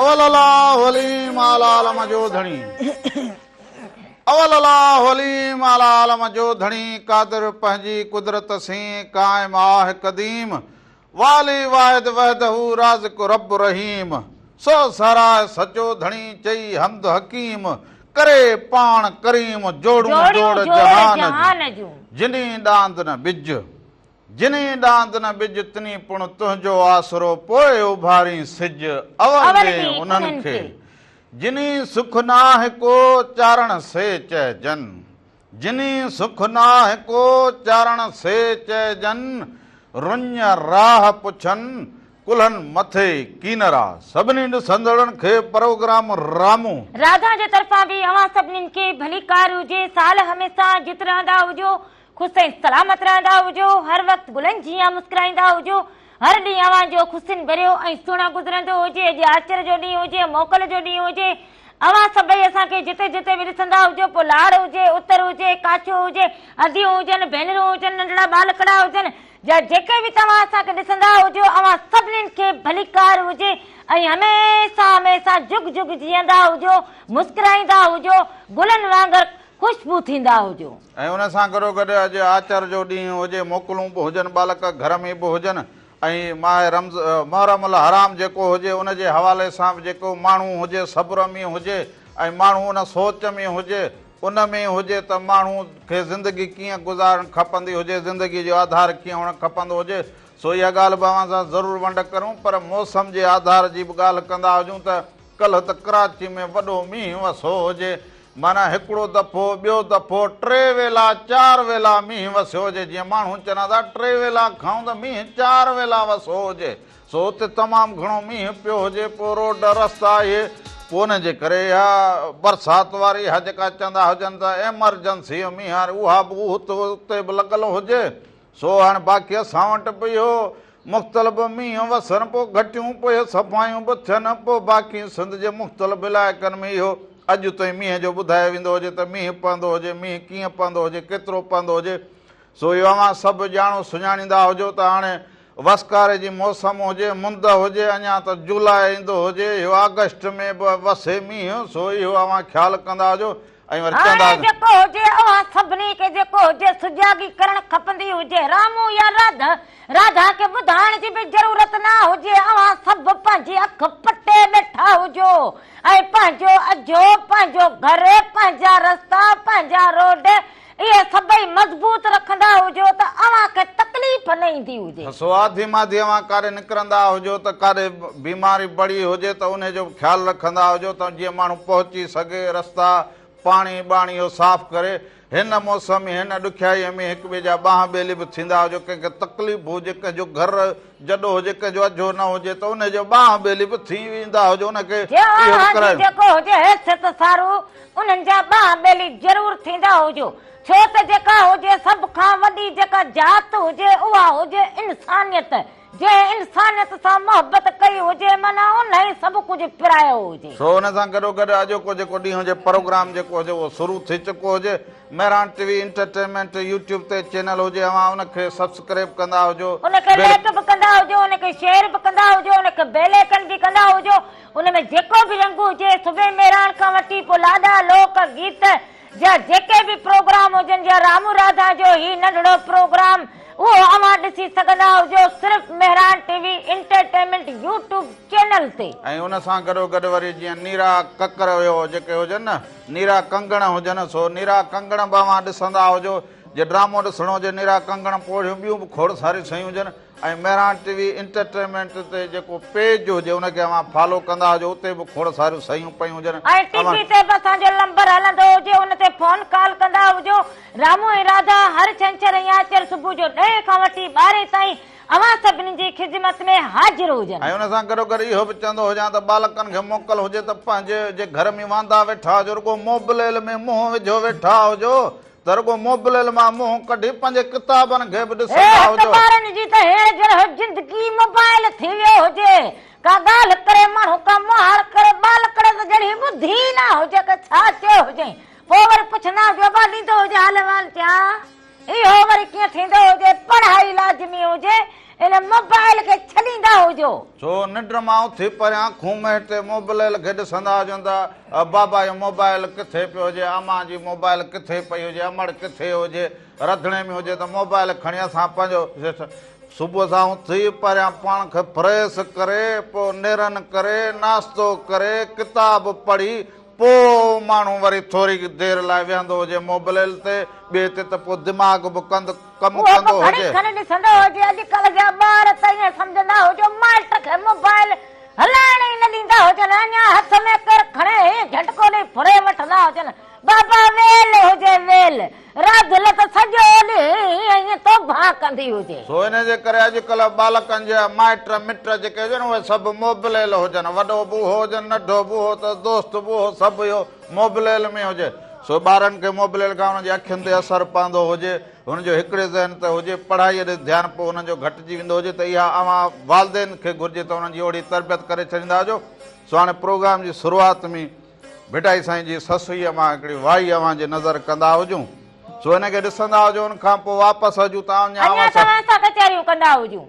اول الله عليم اعليٰ عالم جو ڌڻي اول الله عليم اعليٰ عالم جو ڌڻي قادر پنهنجي قدرت سين قائم آهه قديم والي واحد وحده رازق رب رحيم سو ساراء سچو ڌڻي چئي حمد حڪيم ڪري پاڻ ڪريم جوڙون جوڙ جهان جون جني ڏاند نه ٻج جنھين ڏاند نه ٻج تنھين پڻ تنھنجو آسرو پوء اڀارين سج اور ڏي انھن کي جنھين سک ناھه ڪو چارڻ سي چئجن جنھين سک ناھه ڪو چارڻ سي چئجن رڃ راھ پڇن ڪلھن مٿي ڪينرا. سڀني ڏسندڙن کي پروگرام رامو. راڌا جي طرفان به اوهان سڀنين کي ڀليڪار هجي سال هميسا جت رهندا هجو خوش ۽ سلامت رهندا هجو، هر وقت گلن جيان مسڪرائيندا هجو، هر ڏينهن اوهان جو خوشين ڀريو ۽ سهڻو گذرندو هجي، اڄ آچر جو ڏينهن هجي، موڪل جو ڏينهن هجي، اوهان سڀئي اسان کي جتي جتي به ڏسندا هجو، پوء لاڙ هجي، اتر هجي، ڪاڇو هجي، اديون هجن، ڀينرون هجن، ننڍڙا ٻالڪڙا هجن، يا جيڪي به توهان اسان کي ڏسندا هجو، اوهان سڀني کي ڀليڪار هجي ۽ هميشه هميشه جڳ جڳ جيئندا هجو، مسڪرائيندا هجو، گلن وانگر خوشبو ٿيندا هجو. ۽ ان سان گڏوگڏ اڄ آچر جو ڏينهن هجي، موڪلون به هجن، ٻالڪ گهر ۾ به هجن ۽ ماهه رمض، محرم الحرام جيڪو هجي ان جي حوالي سان به جيڪو ماڻهو هجي صبر ۾ هجي ۽ ماڻهو ان سوچ ۾ هجي ان ۾ هجي ته ماڻهو کي زندگي ڪيئن گذارڻ کپندي هجي، زندگي جو آڌار ڪيئن هئڻ کپندو هجي سو اها ڳالهه به اوهان سان ضرور ونڊ ڪريون پر موسم جي آڌار جي به ڳالهه ڪندا هجون ته ڪلهه ته ڪراچي ۾ وڏو مينهن وسو هجي. معنيٰ هڪڙو دفعو، ٻيو دفعو، ٽي ويلا، چار ويلا مينهن وسيو هجي. جيئن ماڻهو چون ٿا ٽي ويلا کائون ته مينهن چار ويلا وسو هجي. سو اتي تمام گهڻو مينهن پيو هجي. پوء روڊ، رستا اهي. پوء ان جي ڪري اها برسات واري، اها جيڪا چوندا هجن ته ايمرجنسيء مينهن واري، اها به اتي به لڳل هجي. سو هاڻ باقي اسان وٽ به اهو مختلف مينهن وسن پوء گهٽيون پوء صفايون به ٿين پوء باقي سنڌ جي مختلف علائقن ۾ اهو اڄ تائين مينهن جو ٻڌايو ويندو هجي ته مينهن پوندو هجي مينهن ڪيئن پوندو هجي ڪيترو پوندو هجي سو اهو اوهان سڀ ڄاڻو سڃاڻيندا هجو ته هاڻي وسڪاري جي موسم هجي مند هجي اڃا ته جولاء ايندو هجي اهو آگسٽ ۾ به وسي مينهن سو اهو اوهان خيال ڪندا هجو هاڻي جيڪو هجي اوهان سڀني کي جيڪو هجي سجاڳي ڪرڻ کپندي هجي رامو يا راڌا راڌا کي ٻڌائڻ جي به ضرورت نه هجي اوهان سڀ پنهنجي اک پٽي ٻيٺا هجو ۽ پنهنجو اجهو پنهنجو گهر پنهنجا رستا پنهنجا روڊ اهي سڀئي مضبوط رکندا هجو ته اوهان کي تڪليف نه ايندي هجي. سوادي مادي اوهان ڪاري نڪرندا هجو ته ڪاري بيماري بڙي هجي ته انهي جو به خيال رکندا هجو ته جيئن ماڻهو پهچي سگهي رستا پاڻي ٻاڻي اهو صاف ڪري هن موسم هن ڏکيائي ۾ هڪ ٻئي جا ٻانهن ٻيلي به ٿيندا هجو ڪنهن کي تڪليف هجي ڪنهن جو گهر جڏو هجي ڪنهن جو اجهو نه هجي ته انهي جو ٻانهن ٻيلي به ٿي ويندا هجو انهي کي اهو به ڪرائي. جيئن اوهان جي جيڪو هجي حيثيت سارو انهن جا ٻانهن ٻيلي ضرور ٿيندا هجو ڇو ته جيڪا هجي سڀ کان وڏي جيڪا ذات هجي اها هجي انسانيت جنهن انسانيت سان محبت ڪئي هجي معنيٰ انهي سڀ ڪجهه پرايو هجي. سو انهي سان گڏو گڏ اڄوڪو جيڪو ڏينهن جي پروگرام جيڪو هجي اهو شروع ٿي چڪو هجي. Mehran T V entertainment YouTube تي چينل هجي اوهان ان کي سبسڪريب ڪندا هجو. ان کي لائيڪ به ڪندا هجو ان کي شيئر به ڪندا هجو ان کي بيل ايڪن به ڪندا هجو ان ۾ جيڪو به رنگ هجي صبح مهراڻ کان وٺي پوء لاڏا لوڪ گيت جا جيڪي به پروگرام هجن جا رامون راڌان جو هي ننڍڙو پروگرام اهو اوهان ڏسي سگهندا هجو صرف Mehran T V entertainment YouTube channel تي. ۽ ان سان گڏو گڏ وري جيئن نيرا ڪڪر ويو جيڪي هجن نه. نيرا ڪنگڻ هجن سو نيرا ڪنگڻ به اوهان ڏسندا هجو جي ڊرامو ڏسڻو هجي نيرا ڪنگڻ پوڙهيون ٻيون به کوڙ ساريون شيون هجن ۽ مهراڻ ٽي وي انٽرٽينمينٽ تي جيڪو پيج هجي ان کي اوهان فالو ڪندا هجو اتي به کوڙ ساريون شيون پيون هجن ۽ ٽي وي تي به اسان جو لمبر هلندو هجي ان تي فون ڪال ڪندا هجو رامو ۽ راڌا هر ڇنڇر ۽ آچر صبح جو ڏهين کان وٺي ٻارهين تائين اوهان سڀني جي خدمت ۾ حاضر هجن. ۽ ان سان گڏوگڏ اهو به چوندو هجان ته ٻالڪن کي موڪل هجي ته پنهنجي جي گهر ۾ واندا ويٺا هجو رڳو موبليل ۾ منهن وجهيو ويٺا هجو ته رڳو موبليل مان منهن ڪڍي پنهنجي ڪتابن کي به ڏسندا هت هجو. ٻارن جي ته هيڻ جهڙو زندگي موبائيل ٿي ويو هجي. ڪا ڳالهه ڪري ماڻهو ڪا مهاڙ ڪري ٻالڪڙ ته ڄڻ هي ٻڌي ئي نه هجي ته ڇا چيو هجئين. پوء وري پڇندا هجو ابا ڏيندو هجي حال احوال چيان. اهو وري ڪيئن ٿيندو هجي پڙهائي لازمي هجي ان موبائل کي ڇڏيندا هجو. ڇو ننڊ مان اٿي پريان کونمهي تي موبلئل کي ڏسندا هجن ته بابا جو موبائل ڪٿي پيو هجي امان جي موبائل ڪٿي پئي هجي امڙ ڪٿي هجي رڌڻي ۾ هجي ته موبائل کڻي اسان پنهنجو صبح سان اٿي پريان پاڻ کي فريس ڪري پوء نيرن ڪري ناشتو ڪري ڪتاب پڙهي پوء ماڻهو وري ٿوري دير لاء ويهندو هجي موبليل تي، ٻئي تي ته پوء دماغ به ڪند ڪم اهو به ڪندو گهڙي هجي. کن ڏسندو هجي. اڄڪلهه جا ٻار ته ائين سمجهندا هو جو مائٽ کي موبائيل هلائڻ ئي نه ڏيندا هجن. اڃا هٿ ۾ ڪير کڻي هي جهٽڪو ڏئي ڦري وٺندا هجن. بابا ويل هجي ويل. را دل ته سڄو ڏينهن ائين توبهان ڪندي هجي. سو ان جي ڪري اڄڪلهه ٻالڪن جا مائٽ مٽ جيڪي هجن اهي سڀ موبليل هجن. وڏو به اهو هجن ننڍو به اهو اٿس دوست به اهو سڀ اهو موبليل ۾ هجي. سو ٻارن کي موبليل کان انهن جي اکين تي اثر پوندو هجي هن جو هڪڙي ذهن تي هجي پڙهائي ڏي ڌيان پوء انهن جو گهٽجي ويندو هجي ته اها اوهان والدين کي گهرجي ته انهن جي اهڙي تربيت ڪري ڇڏيندا هجو. سو هاڻي پروگرام جي شروعات ۾ ڀٽائي سائين جي سسئي امان هڪڙي وائي اوهان جي نظر ڪندا هجون سو ان کي ڏسندا هجون ان کان پوء واپس هجون ته اڃا اوهان سان اوهان سان ڪچهريون ڪندا هجون.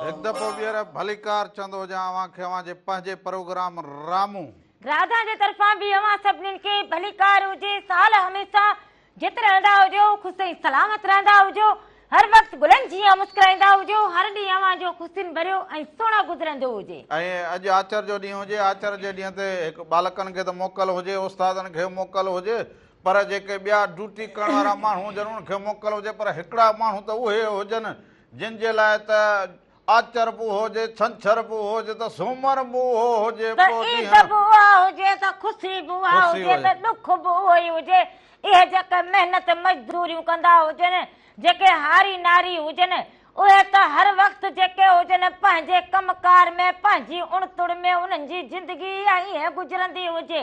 هڪ دفعو ٻيهر ڀليڪار چوندو هجان اوهان کي اوهان جي پنهنجي پروگرام رامون. راڌا جي طرفان به اوهان سڀني کي ڀليڪار هجي سال هميشه جت رهندا هجو، خوش ۽ سلامت رهندا هجو، هر وقت گلن جيان مسڪرائيندا هجو، هر ڏينهن اوهان جو خوشين ڀريو ۽ سهڻو گذرندو هجي. ۽ اڄ آچر جو ڏينهن هجي، آچر جي ڏينهن تي هڪ ٻالڪن کي ته موڪل هجي، استادن کي موڪل هجي، پر جيڪي ٻيا ڊيوٽي ڪرڻ وارا ماڻهو هجن انهن کي موڪل هجي، پر هڪڙا ماڻهو ته اهي هجن جن جي لاء ته آچر به هجي، ڇنڇر به هجي ته سومر به اهو هجي. ته عيد به اها هجي ته خوشي به اها هجي ته ڏک به اهو ئي هجي. اهي جيڪي محنت مزدوريون ڪندا هجن، جيڪي هاري ناري هجن، اهي ته هر وقت جيڪي هجن پنهنجي ڪم ڪار ۾ پنهنجي اڻ تڙ ۾ انهن جي زندگي ايئن ئي گذرندي هجي.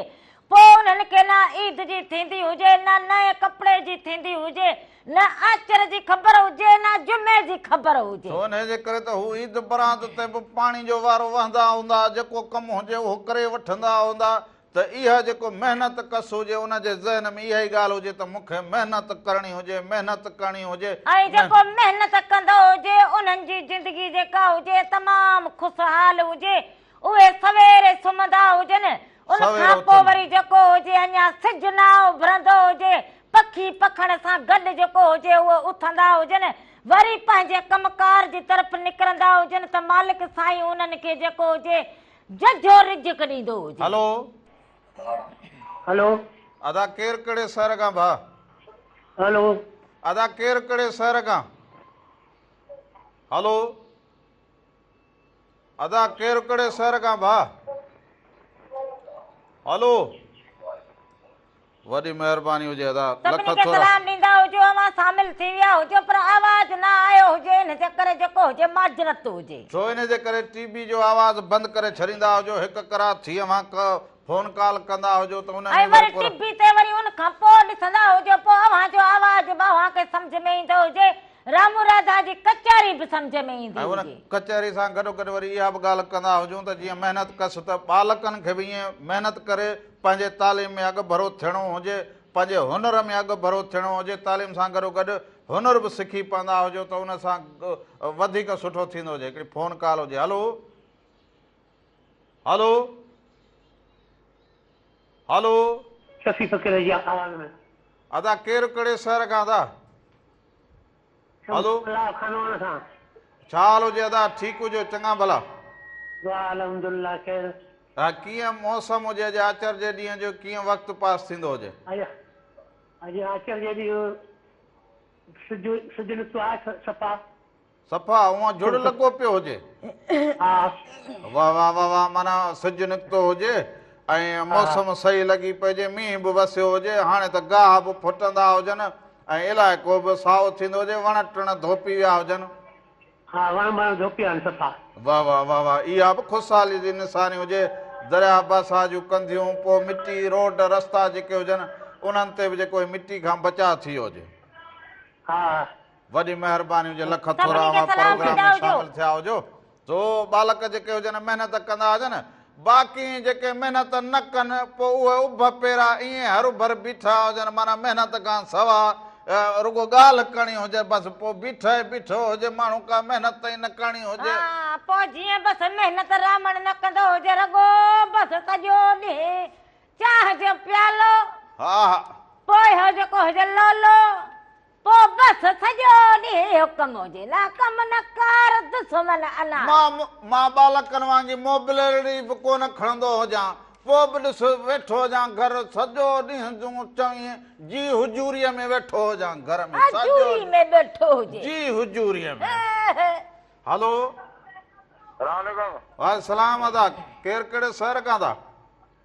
پوء انهن کي نه عيد جي ٿيندي هجي، نه نئين ڪپڙي جي ٿيندي هجي، نه آچر جي خبر هجي، نه جمعي جي خبر هجي. سو انهيء جي ڪري ته هو عيد برات تي به پاڻي جو وارو وهندا هوندا، جيڪو ڪم هجي اهو ڪري وٺندا هوندا، ته اها جيڪو محنت ڪس هجي، ان جي ذهن ۾ اها ئي ڳالهه هجي ته مون کي محنت ڪرڻي هجي، محنت ڪرڻي هجي. ۽ جيڪو محنت ڪندو هجي، انهن جي زندگي جيڪا هجي تمام خوشحال هجي، اهي سويري سمهندا هجن، ان کان پوء وري جيڪو هجي اڃا سج نه اڀرندو هجي، پکي پکڻ سان گڏ جيڪو هجي اهي اٿندا هجن، وري پنهنجي ڪم ڪار جي طرف نڪرندا هجن ته مالڪ سائين انهن کي جيڪو هجي ججهو رزق ڏيندو هجي. هلو. هلو. ادا ڪير ڪهڙي شهر کان ڀاء. هلو. ادا ڪير ڪهڙي شهر کان. هلو. ادا ڪير ڪھڙي شهر کان ڀا. هلو وڏي مهرباني هجي ادا لک سڀني کي ٿورا سلام ڏيندا هجو اوهان شامل ٿي ويا هجو پر آواز نه آيو هجي ان جي ڪري جيڪو هجي معذرت هجي. ڇو ان جي ڪري ٽي بي جو آواز بند ڪري ڇڏيندا هجو هڪ ڪرا ٿي اوهان ڪه فون ڪال ڪندا هجو ته ان ۾ وري ٽي بي تي وري ان کان پوء ڏسندا هجو پوء اوهان جو آواز به اوهان کي سمجهه ۾ ايندو هجي رامو راڌا جي ڪچهري به سمجهه ۾ ايندي هجي ۽ ان ڪچهري سان گڏو گڏ وري اها به ڳالهه ڪندا هجون ته جيئن محنت ڪس ته ٻالڪن کي به ائين محنت ڪري پنهنجي تعليم ۾ اڳ ڀرو ٿيڻو هجي پنهنجي هنر ۾ اڳ ڀرو ٿيڻو هجي تعليم سان گڏو گڏ هنر به سکي پوندا هجو ته ان سان وڌيڪ سٺو ٿيندو هجي هڪڙي فون ڪال هجي هلو هالو هالو. شفيع فقير جي آواز ۾. ادا ڪير ڪھڙي شھر کان ادا. هلو. الله خانواڻ کان. ڇا حال هجي ادا ٺيڪ هجو چڱا ڀلا. دعا الحمد الله خير. ها ڪيئن موسم هجي اڄ آچر جي ڏينهن جو ڪيئن وقت پاس ٿيندو هجي. اڄ اڄ آچر جي ڏينهن سج سج نڪتو آهي صفا. صفا اوهان جڙ لڳو پيو هجي ها واه واه واه واه معنيٰ سج نڪتو هجي ۽ موسم صحيح لڳي پئجي مينهن به وسيو هجي هاڻي ته گاهه به ڦٽندا هجن ۽ علائقو به سائو ٿيندو هجي وڻ ٽڻ ڌوپي ويا هجن ها وڻ ٻڻ ڌوپي ويا آهن صفا واه واه واه واه اها به خوشحالي جي نشاني هجي درياء باسا جون ڪنڌيون پوء مٽي روڊ رستا جيڪي هجن انهن تي به جيڪو هي مٽي کان بچاء ٿي ويو هجي ها وڏي مهرباني هجي لک ٿورا اوهان پروگرام ۾ شامل ٿيا هجو سو ٻالڪ جيڪي هجن محنت ڪندا هجن باقي جيڪي محنت نه ڪن پوء اهي اڀ پيرا ائين هر ڀر بيٺا هجن معنيٰ محنت کان سوا رڳو ڳالهه ڪرڻي هجي بس پوء بيٺ ئي بيٺو هجي ماڻهو ڪا محنت ئي نه ڪرڻي هجي پوء جيئن بس محنت رامڻ نه ڪندو هجي رڳو بس سڄو ڏينهن چانهه جو پيالو ها ها پوء هو جيڪو هجي لولو پوء بس سڄو ڏينهن حڪم جي لا ڪم نه ڪار دشمن انا. مان مان ٻالڪن وانگي موبليرڙي به ڪونه کڻندو هجان پوء به ڏس ويٺو هجان گهر سڄو ڏينهن جون چوين جي حضوريء ۾ ويٺو هجان گهر ۾ سڄو حضوري ۾ ويٺو هجي. جي حضوريء ۾ هلو سلام عليڪم. وعليڪم سلام ادا ڪير ڪهڙي شهر کان ٿا.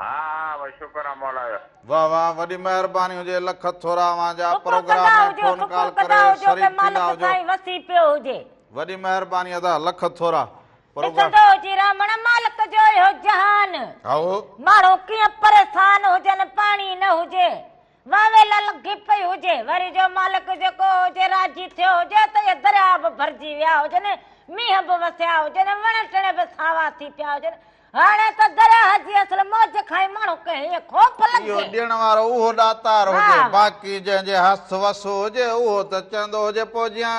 ها ها بس شڪر آ مولا جو. واه واه وڏي مهرباني هجي لک ٿورا اوهان جا پروگرام ۾ فون ڪال ڪري شريڪ ٿيندا هجو وڏي مهرباني ادا لک ٿورا پروگرام ڏسندو هجي رامڻ مالڪ جو اهو جهان هائو ماڻهو ڪيئن پريسان هجن پاڻي نه هجي وهوي لعل گپي هجي وري جو مالڪ جيڪو هجي راضي ٿيو هجي ته اهي درياء به ڀرجي ويا هجن مينهن به وسيا هجن وڻ ٽڻ به ساوا ٿي پيا هجن هاڻي ته درياء جي اصل موج کان ئي ماڻهو کي هيئن خوف لڳي اهو ڏيڻ وارو اهو ڏاتار هجي باقي جنهن جي هٿ وس هجي اهو ته چوندو هجي پوء جيان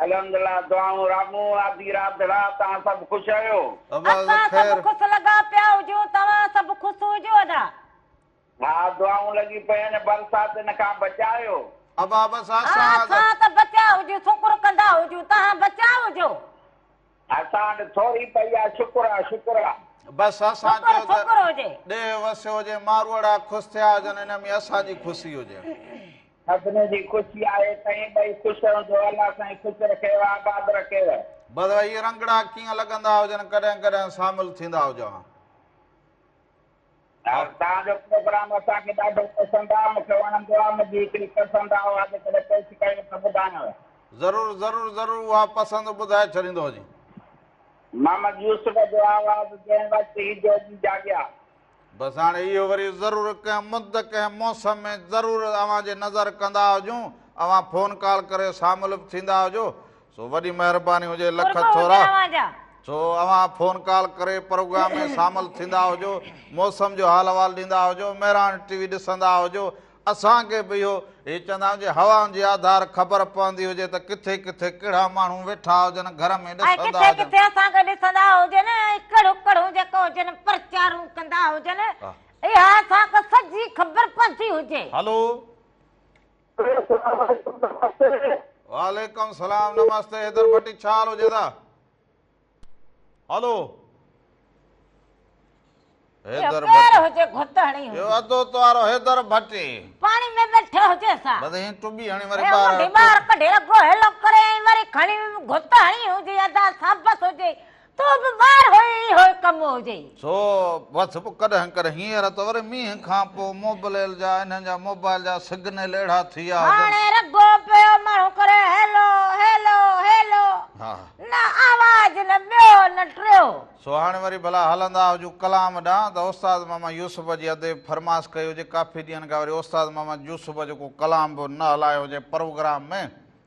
الحمدالله دعائون رامون آدي راڌڙا تهان سڀ خوش آهيو. اسان سڀ خوس لڳا پيا هجون توهان سڀ خوس هجو ادا. ها دعائون لڳي پين برساتن کان بچايو. ابا بس اسان ته بچيا هجون سڪر ڪندا هجون تهان بچيا هجو. اسان وٽ ٿوري پئي آ شڪر آ شڪر آ. بس اسان چيو ته ڏيهه وسيو هجي ماروئڙا خوش ٿيا هجن ان ۾ اسان جي خوشي هجي. سڀني جي خوشي آهي سائين ٻئي خوش رهون جو الله سائين خوش رکيو آباد رکيو. بس اهي رنگڙا ڪيئن لڳندا هجن ڪڏهن ڪڏهن سامل ٿيندا هجان. توهان جو پروگرام اسان کي ڏاڍو پسند آ مونکي وڻندو آ منهنجي هڪڙي پسند آ اها جي ڪڏهن پيش ڪيو ته ٻڌايانو. ضرور ضرور ضرور اها پسند ٻڌائي ڇڏيندو جي. محمد يوسف جو آواز جنهن وقت هي جوڳي جاڳيا. بس هاڻي اهو وري ضرور ڪنهن مد ڪنهن موسم ۾ ضرور اوهان جي نظر ڪندا هجون اوهان فون ڪال ڪري ساملب ٿيندا هجو سو وڏي مهرباني هجي لک ٿورا سو اوهان فون ڪال ڪري پروگرام ۾ شامل ٿيندا هجو موسم جو حال احوال ڏيندا هجو مهراڻ ٽي وي ڏسندا هجو اسان کي به اهو هي چوندا جي هوائن جي آڌار خبر پوندي هجي ته ڪٿي ڪٿي ڪهڙا ماڻهو ويٺا هجن گهر ۾ ڏسندا هجن ڪٿي اسان کي ڏسندا هجن اڪڙ اڪڙ جيڪو هجن پرچارون ڪندا هجن اها اسان کي سڄي خبر پوندي هجي هلو وعليڪم سلام نمستے حيدر ڀٽي ڇا حال هجي ٿا هلو حيدر ڀٽي هجي گهت هڻي هجي يو ادو توارو حيدر ڀٽي پاڻي ۾ بيٺا هجي سا بس هي ٽبي هڻي وري ٻار هي ٻار ڪڍي اگو هيلو ڪري وري کڻي گهت هڻي هجي ادا سابس هجي تو به ٻار هئين اهو ئي ڪم هجئي. سو بس پوء ڪڏهن ڪر هينئر ته وري مينهن کان پوء موبليل جا انهن جا موبائل جا سگنل اهڙا ٿي ويا هجن. هاڻي رڳو پيو ماڻهو ڪري هيلو هيلو هيلو ها. نه آواز نه ٻيو نه ٽيو. سو هاڻي وري ڀلا هلندا هجون ڪلام ڏانهن ته استاد محمد يوسف جي اديب فرمائش ڪئي هجي ڪافي ڏينهن کان وري استاد محمد يوسف جو ڪو ڪلام به نه هلايو هجي پروگرام ۾.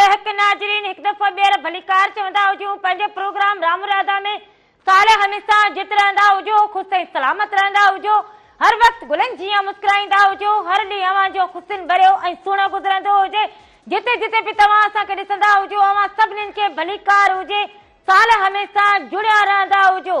اهڪ ناظرين هڪ دفعو ٻيهر ڀليڪار چوندا هجون پنهنجي پروگرام رام راڌا ۾ سال هميسا جت رهندا هجو خوش ۽ سلامت رهندا هجو هر وقت گلن جيان مسڪرائيندا هجو هر ڏينهن اوهان جو خوشين ڀريو ۽ سهڻو گذرندو هجي جتي جتي به توهان اسان کي ڏسندا هجو اوهان سڀنين کي ڀليڪار هجي سال هميسا جڙيا رهندا هجو.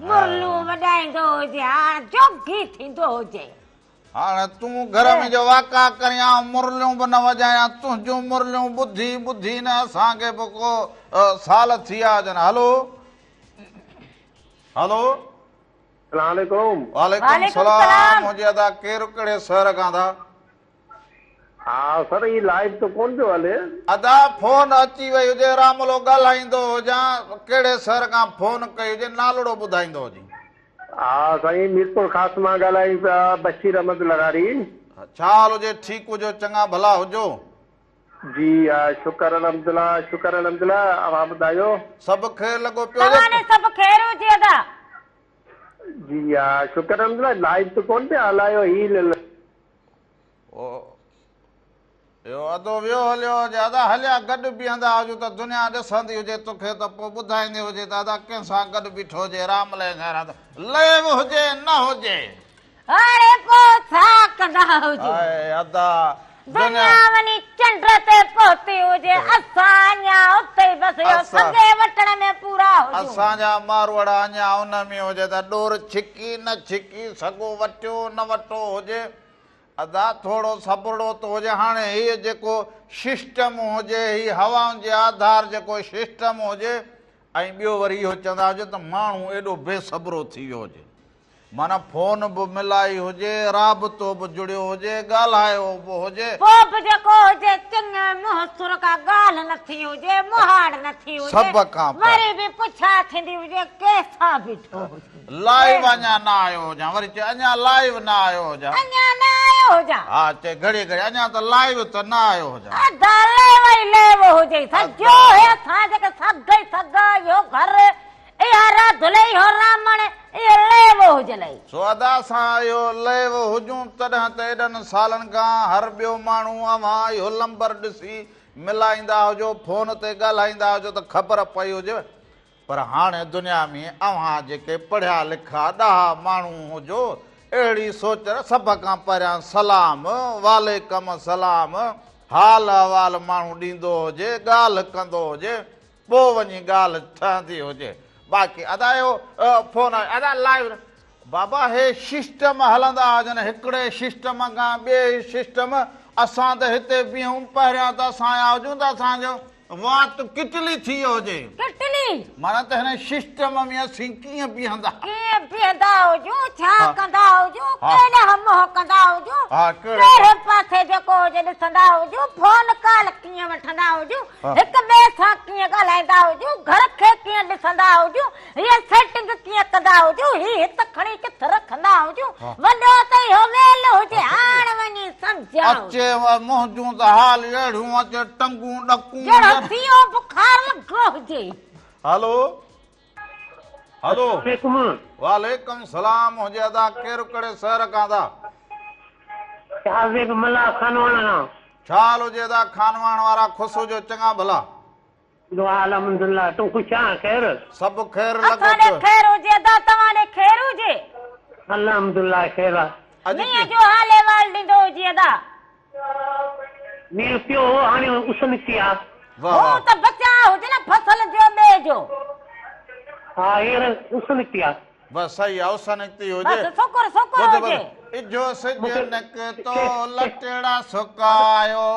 مرلون وڄائيندو هجي هاڻ جوگي ٿيندو هجي. هاڻ تون گهر ۾ جو واڪا ڪرين آئون مرليون به نه وڄايان تنهنجون مرليون ٻڌي ٻڌي نه اسان کي به ڪو سال ٿي آيا هجن هلو هلو السلام عليڪم وعليڪم السلام منهنجي ادا ڪير ڪهڙي شهر کان ٿا ها سر هي لائيو ته ڪون پيو هلي. ادا فون اچي وئي هجي راملو ڳالهائيندو هجان ڪهڙي سر کان فون ڪئي هجي نالڙو ٻڌائيندو هجين. ها سائين ميرپور خاص مان ڳالهايون پيا بشير احمد لغاري. ڇا حال هجي ٺيڪ هجو چڱا ڀلا هجو. جي ها شڪر الحمدالله شڪر الحمدالله اوهان ٻڌايو. سڀ خير لڳو پيو هجي. توهان ڏي سڀ خير هجي ادا. جي ها شڪر الحمدالله لائيو ته ڪون پيا هلايو هي. اهو ادو ويو هليو هجي ادا هليا گڏ بيهندا هجون ته دنيا ڏسندي هجي توکي ته پوء ٻڌائيندي هجي ته ادا ڪنهن سان گڏ بيٺو هجي رام لئي کان رات لئي به هجي نه هجي اڙي پوء ڇا ڪندا هجو اي ادا دنيا وڃي چنڊ تي پهتي هجي اسان اڃا اتي ئي بس اهو سگي وٽڻ ۾ پورا هجون اسان جا ماروئڙا اڃا ان ۾ هجي ته ڏور ڇڪ ڪي نه ڇڪي سگهو وٽيو نه وٽو هجي ادا ٿورو صبرڙو ته هجي هاڻي هي جيڪو ششٽم هجي هي هوائن جي آڌار جيڪو ششٽم هجي ۽ ٻيو وري اهو چوندا هجي ته ماڻهو ايڏو بي صبرو ٿي ويو هجي معنيٰ فون به ملائي هجي رابطو به جڙيو هجي ڳالهايو به هجي. پوء به جيڪو هجي چڱي منهن سر ڪا ڳالهه نه ٿي هجي مهاڙ نه ٿي هجي وري به پڇا ٿيندي هجي ڪنهن سان بيٺو هجي. لائيو اڃان نه آيو هجان وري چئي اڃان لائيو نه آيو هجان اڃان نه آيو هجان ها چئي گهڙي گهڙي اڃان ته لائيو ته نه آيو هجان ادا ليو ئي ليو هجئي سڄو هي اسان جيڪي سگهه ئي سگهه اهو گهر اها راڌل ئي اهو رامڻ اهي ليو هجلئي. سو ادا اسان اهو ليو هجون تڏهن ته ايڏن سالن کان هر ٻيو ماڻهو اوهان اهو لمبر ڏسي ملائيندا هجو فون تي ڳالهائيندا هجو ته خبر پئي هجيو پر هاڻ دنيا ۾ اوهان جيڪي پڙهيا لکا ڏاها ماڻهو هجو، اهڙي سوچ ر سڀ کان پهريان سلام، وعليڪم السلام، حال احوال ماڻهو ڏيندو هجي، ڳالهه ڪندو هجي، پوء وڃي ڳالهه ٺهندي هجي. باقي ادا اهو فون ادا لائيو نه. بابا هي ششٽم هلندا هجن هڪڙي ششٽم کان ٻئي ششٽم اسان ته هتي بيهون پهريان ته اسان آيا هجون ته اسان جو وات ڪٽلي ٿي ويو هجي ڪٽلي معنيٰ ته هن ششٽم ۾ اسين ڪيئن بيهندا ڪيئن بيهندا هجون ڇا ڪندا هجون ڪيڏانهن منهن ڪندا هجون ڪهڙي پاسي جيڪو هجي ڏسندا هجون فون ڪال ڪيئن وٺندا هجون هڪ ٻئي سان ڪيئن ڳالهائيندا هجون گهر کي ڪيئن ڏسندا هجون هيء سيٽنگ ڪيئن ڪندا هجون، هي هت کڻي ڪٿ رکندا هجون، وڏو ته اهو ويل هجي، هاڻ وڃي سمجهيان. اچي و منهنجون ته حال اهڙيون اچي ٽنگون ڏڪون. ڄڻ سيو بخار لڳو هجي. هلو هلو وعليڪم السلام منهنجي ادا ڪير ڪهڙي شهر کان ادا. شاهه زيب ملاح خانواڻ کان. ڇا حال هجي ادا خانواڻ وارا خوش هجو چڱا ڀلا. دعا الحمد الله تون خوش آن خير. سڀ خير لڳو اسان ڏي پيو. خير هجي ادا توهان ڏي خير هجي. الحمد الله خير آ. اڄ مينهن جو حال احوال ڏيندو هجي ادا. مينهن پيو هو هاڻي اس نڪتي آ. واھ هو واھ. ته بچاء هجي نه فصل جو ٻيء جو. ها هينئر اس نڪتي آ. بس صحيح آ اس نڪتي هجي. بس سڪر سڪر ٻڌ ٻڌ. هجي. اجهو سج مونکي نڪتو کيس کيس. لٽيڙا سڪايو.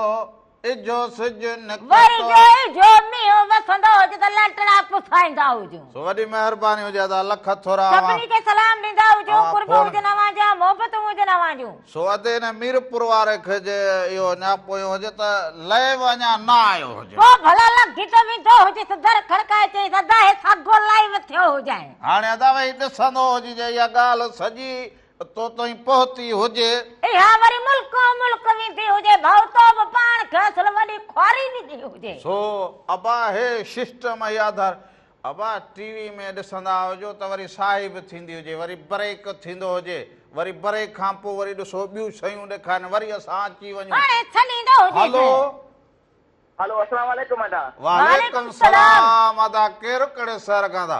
اجهو سج نڪتو. وري جو اجهو مينهن وسندو هجي ته لنٽڙا پسائيندا هجون. سو وڏي مهرباني هجي ها ته الخ ٿورا اوهان. سڀني کي سلام ڏيندا هجون. قرب هجن اوهان جا، محبتون هجن اوهان جون. سو ادي هن ميرپور واري کي جي اهو اڃا پويون هجي ته لئي به اڃا نه آيو هجي. پوء ڀلا لنگهي ته ويندو هجيس. در کڙڪائي چيس، ادا هي ساڳو لئي وٿيو هجانء. هاڻي ادا ويهي ڏسندو هجي جي اها ڳالهه سڄي تو تائين پهتي هجي. اها وري ملڪو ملڪ ويندي هجي، ڀائو تو به پاڻ کي اصل وڏي خواري ڏني هجي. سو ابا هي سسٽم هي آڌار ابا ٽي وي ۾ ڏسندا هجو ته وري ساهي به ٿيندي هجي وري بريڪ ٿيندو هجي وري بريڪ کان پوء وري ڏسو ٻيون شيون ڏيکارين وري اسان اچي وڃون هاڻي ڇڏيندو هجي هلو ته. هلو السلام عليڪم ادا. وعليڪم السلام ادا ڪير ڪهڙي شهر کان ٿا.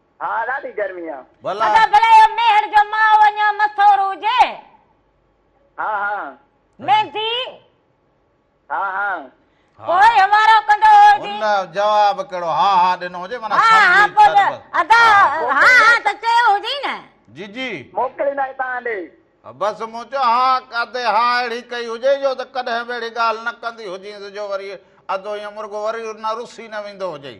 ها ڏاڍي گرمي آ. ڀلا. ادا ڀلا اهو ميهڙ جو ماء اڃان مستور هجي. ها ها. ميندي. ها ها. پوء هنوارو ڪندو هو جي. ان جواب ڪهڙو ها ها ڏنو هجي معنيٰ سمجهي ڇڏ بس. ادا ها ها ته چيو هجئي نه. جي جي. موڪليندا هتان ڏي. بس مون چيو ها ادي ها اهڙي ڪئي هجئي جو ته ڪڏهن به اهڙي ڳالهه نه ڪندي هجينس جو وري ادو ائين مرڳو وري نه رسي نه ويندو هجئي.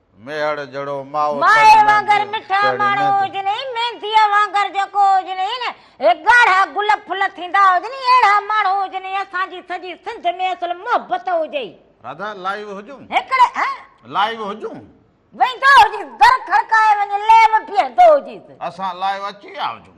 ميهڙ جھڙو ماء تڙ وانگر مٺا ماڻهو هجن ۽ مينديء وانگر جيڪو هجن ۽ ڳاڙها گل ڦل ٿيندا هجن اهڙا ماڻهو هجن ۽ اسان جي سڄي سنڌ ۾ اصل محبت هجي. راڌا لائيو هجون. هڪڙي ها. لائيو هجون. ويندو هجيس در کڙڪائي وڃي ليو بيهندو هجيس. اسان لائيو اچي ويا هجون.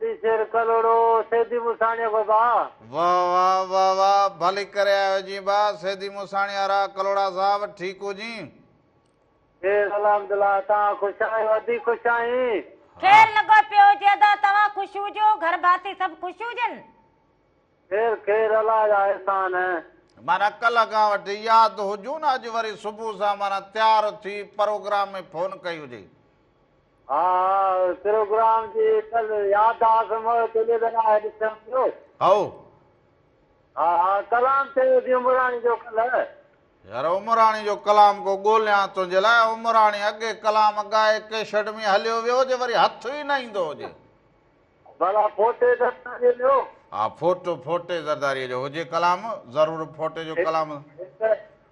ڏيشر ڪلهوڙو، سيدي موساڻيء کان با. واه واه واه واه ڀلي ڪري آيا آهيو جين با سيدي موساڻي وارا ڪلهوڙا صاحب ٺيڪ هو جين. خير الحمدالله توهان خوش آهيو ادي خوش آهين. خير لڳو پيو هجي ادا توهان خوش هجو گهر ڀاتي سڀ خوش هجن. خير خير الله جا احسان. معنيٰ ڪلهه کان وٺي ياد هجون نه اڄ وري صبح سان معنيٰ تيار ٿي پروگرام ۾ فون ڪئي هجئي. ها پروگرام جي ڪل ياد اعظم چلي ته نه آهي ڏسيان پيو. هائو. ها ها ڪلام چيو هوسين عمراڻي جو ڪلهه. يار عمراڻي جو ڪلام ڪو ڳوليان تنهنجي لاء عمراڻي اڳي ڪلام ڳائي ڪيشٽ ۾ هليو ويو هجي وري هٿ ئي نه ايندو هجي. ڀلا ڦوٽي زرداري جو. ها ڦوٽو ڦوٽي زرداري جو هجي ڪلام ضرور ڦوٽي جو ڪلام. هڪ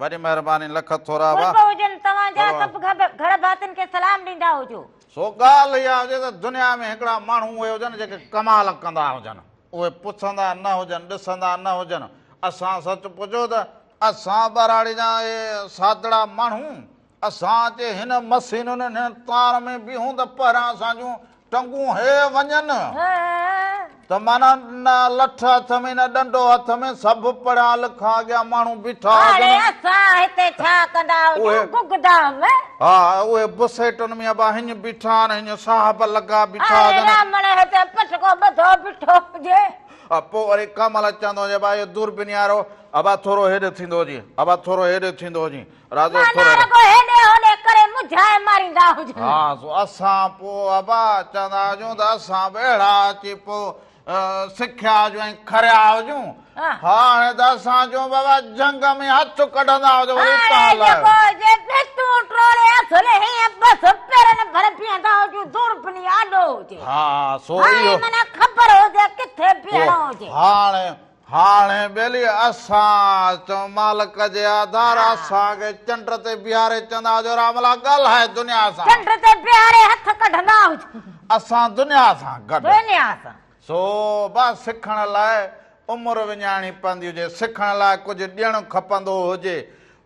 وڏي مهرباني لک ٿورا واهه. قرب هجن توهان جا سڀ گهر ڀاتين کي سلام ڏيندا هجو. سو ڳالهه اها هجي ته دنيا ۾ هڪڙا ماڻهو اهي هجن جيڪي ڪمال ڪندا هجن اهي پڇندا نه هجن ڏسندا نه هجن اسان سچ پچو ته اسان ٻهراڙي جا اهي سادڙا ماڻهو اسان جي هن مسينن هن تار ۾ بيهون ته پهريان اسان جون ٽنگون هي وڃن ته مانا نه لٺ هٿ ۾ نه ڏنڊو هٿ ۾ سڀ پڙهيا لکا اڳيان ماڻهو بيٺا هاڻي اسان هتي ڇا ڪندا هجون گگدا ۾ ها اهي بسيٽن ۾ ابا هن بيٺا آهن هن صاحب لڳا بيٺا هاڻي رامڻ هتي پٽڪو ٻڌو بيٺو هجي پوء وري ڪمل چوندو هجي ابا اهو دوربين يارو ابا ٿورو هيڏي ٿيندو هجي ابا ٿورو هيڏي ٿيندو هجي رازو ٺر ٺر. رڳو هيڏي هوڏي ڪري مجهائي ماريندا هجن. ها سو اسان پوء ابا چوندا هجون ته اسان به اهڙا اچي پوء سکيا هجون ۽ کريا هجون. هاڻي ته اسان چون بابا جهنگ ۾ هٿ ڪڍندا هجو وري اتان هاڻي هلايو. جيڪو هجي پستون ٽوڙي اصل هيئن بس پيرن ڀر بيهندا هجون دور پني آڏو هجي. ها سو اهو. هاڻي معنيٰ خبر هجي ڪٿي بيهڻو هجي. هاڻي هاڻي ٻيلي اسان اچو مالڪ جي آڌار اسان کي چنڊ تي بيهاري چوندا هجو راملا ڳالهاء دنيا سان چنڊ تي بيهاري هٿ ڪڍندا هجو اسان دنيا سان گڏ دنيا سان سو با سکڻ لاء عمر وڃائڻي پوندي هجي سکڻ لاء ڪجهه ڏيڻ کپندو هجي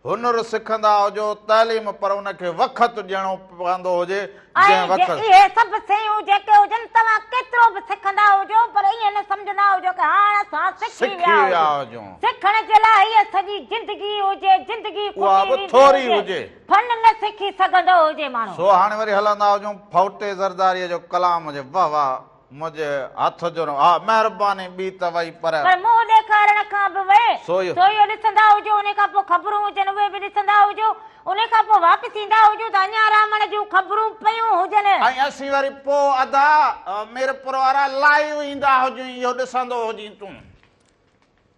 هنر سکندا هجو تعليم پر ان کي وخت ڏيڻو پوندو هجي جنهن وخت ۽ جي اهي سڀ سيون جيڪي هجن توهان ڪيترو به سکندا هجو پر ائين نه سمجهندا هجو ڪه هاڻ اسان سکي ويا هجون سکڻ جي لاء هيء سڄي زندگي هجي زندگي اها کٽي به ويندي ٿوري هجي هجي. فن نه سکي سگهندو هجي ماڻهو. سو هاڻي وري هلندا هجون ڦوٽي زرداريء جو ڪلام جي واه واه. منهنجي هٿ جو نه. آء مهرباني ٻي ته وئي پر. پر منهن ڏيکارڻ کان به وئي. سو اهو. سو اهو ڏسندا هجو انهي کان پوء خبرون هجن اهي به ڏسندا هجو انهي کان پوء واپس ايندا هجو ته اڃان رامڻ جون خبرون پيون هجن. ۽ اسين وري پوء ادا ميرپور وارا لائيو ايندا هجون اهو ڏسندو هجين تون.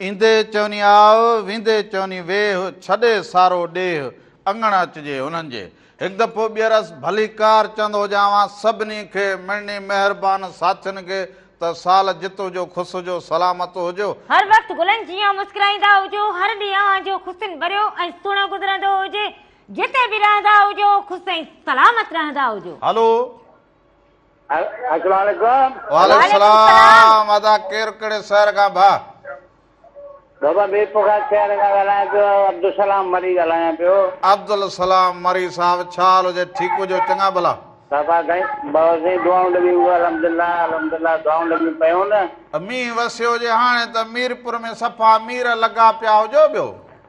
ايندي چوني آء، ويندي چوني ويھ، ڇڏي سارو ڏيھ، اڱڻ اچجي انھن جي. ھڪ دفعو ٻيھرس ڀليڪار چوندو ھجانوان سڀني کي، مڙني مھربان ساٿين کي ته سال جت ھجو خوس ھجو سلامت ھجو. ھر وقت گلن جيان مسڪرائيندا ھجو، ھر ڏينھن اوھان جو خوشين ڀريو ۽ سھڻو گذرندو ھجي، جتي به رھندا ھجو خوش ۽ سلامت رھندا ھجو. ھلو السلام عليڪم وعليڪم السلام ادا ڪير ڪهڙي شهر کان ڀا بابا مير پورخاص شهر کان ڳالهايان پيو عبدالسلام مري ڳالهايان پيو عبدالسلام مري صاحب ڇا حال هجي ٺيڪ هجو چڱا ڀلا بابا سائين بابا سائين دعائون لڳيون پيون الحمدلله الحمدلله دعائون لڳيون پيون نه مينهن وسيو هجي هاڻي ته ميرپور ۾ صفا مير لڳا پيا هجو ٻيو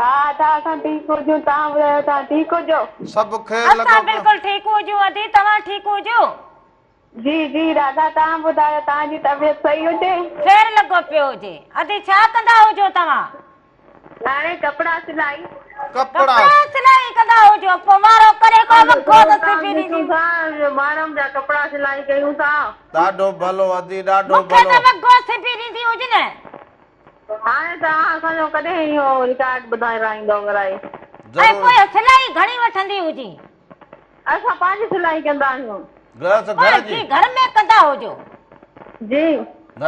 ها ادا اسان ٺيڪ هجون توهان ٻڌايو توهان ٺيڪ هجو. سڀ خير لڳو اسان پيو بلڪل ٺيڪ هجون ادي توهان ٺيڪ هجو. جي جي دادا توهان ٻڌايو توهان جي طبيعت صحيح هجي. خير لڳو پيو هجي ادي ڇا ڪندا هجو توهان. هاڻي ڪپڙا سلائي. ڪپڙا ڪپڙا سلائي ڪندا هجو پو وارو ڪري ڪو ڪم وکو ته ڪم سبي ڏسون ڏينديون. ٿا ماڻهن جا ڪپڙا سلائي ڪيون ٿا. ڏاڍو ڀلو ادي ڏاڍو مونکي ته ڀلو. وڳو سبي ڏيندي هجن. هاڻي ته اوهان اسان جو ڪڏهن اهو رڪارڊ ٻڌائي رائيندؤ ورائي. ۽ پوء ضرور. سلائي گهڻي وٺندي هجي. اسان پنهنجي سلائي ڪندا آهيون. گرهست پوء گهر جي. جي گهر ۾ ڪندا هجو. جي.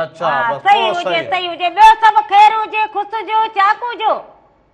اچا ها بس پوء صحيح هجي سهي. صحيح هجي ٻيو سڀ خير هجي خص جو چاڪو جو.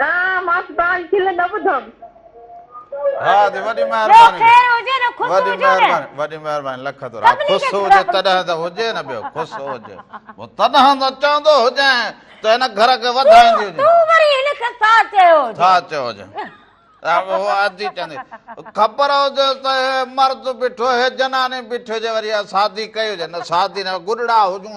ها ماس بان کل نه ٻڌم. ها دي وڏي مهرباني وڏي مهرباني وڏي مهرباني لک ٿورا خوش هجي تڏهن ته هجي نه ٻيو خوش هجي مون تڏهن ته چوندو هجين ته هن گهر کي وڌائيندي هجي تو وري هن کي ٿا چيو هجي ٿا چيو هجي هو اجي چندي خبر هجي ته مرد بيٺو هي جناني بيٺي هجي وري شادي ڪئي هجي نه شادي نه گڏڙا هجون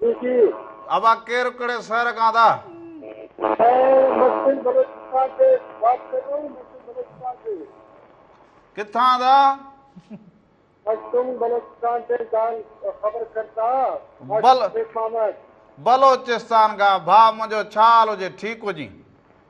جي جي. ابا ڪير ڪھڙي شهر کان ٿا. سائين محسن بلوچستان تي وات ڪر رھا ھون محسن بلوچستان تي. ڪٿان ٿا. محسن بلوچستان تي جان خبر ڪرتا بل شيخ محمد. بلوچستان کان ڀاء منھنجو ڇا حال ھجي ٺيڪ ھجين.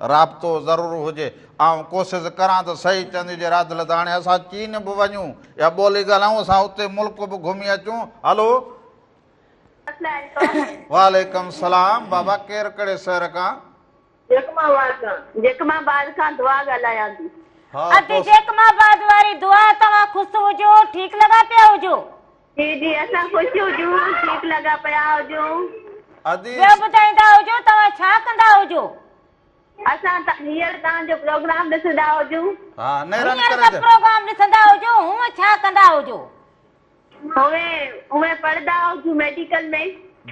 رابطو ضرور هجي. آئون ڪوسز ڪران ته صحيح چندي جي را دل ته هاڻي اسان چين به وڃون يا ٻولي ڳالهائون اسان اتي ملڪ به گهمي اچون هلو. السلام عليڪم. وعليڪم السلام بابا ڪير ڪھڙي سهر کان. جيڪب آباد کان. جيڪب آباد کان دعا ڳالهايان ٿي. ادي جيڪب آباد واري دعا توهان خوس هجو ٺيڪ لڳا پيا هجو. جي جي اسان خوش هجون ٺيڪ لڳا پيا هجون. ادي. ٻيو ٻڌائيندا هجو توهان ڇا ڪندا هجو. اسان ته هينئر توهان جو پروگرام ڏسندا هجون. ها نيران هينئر ته پروگرام ڏسندا هجو هونء ڇا ڪندا هجو. هونء هونء پڙهندا هجون ميڊيڪل ۾.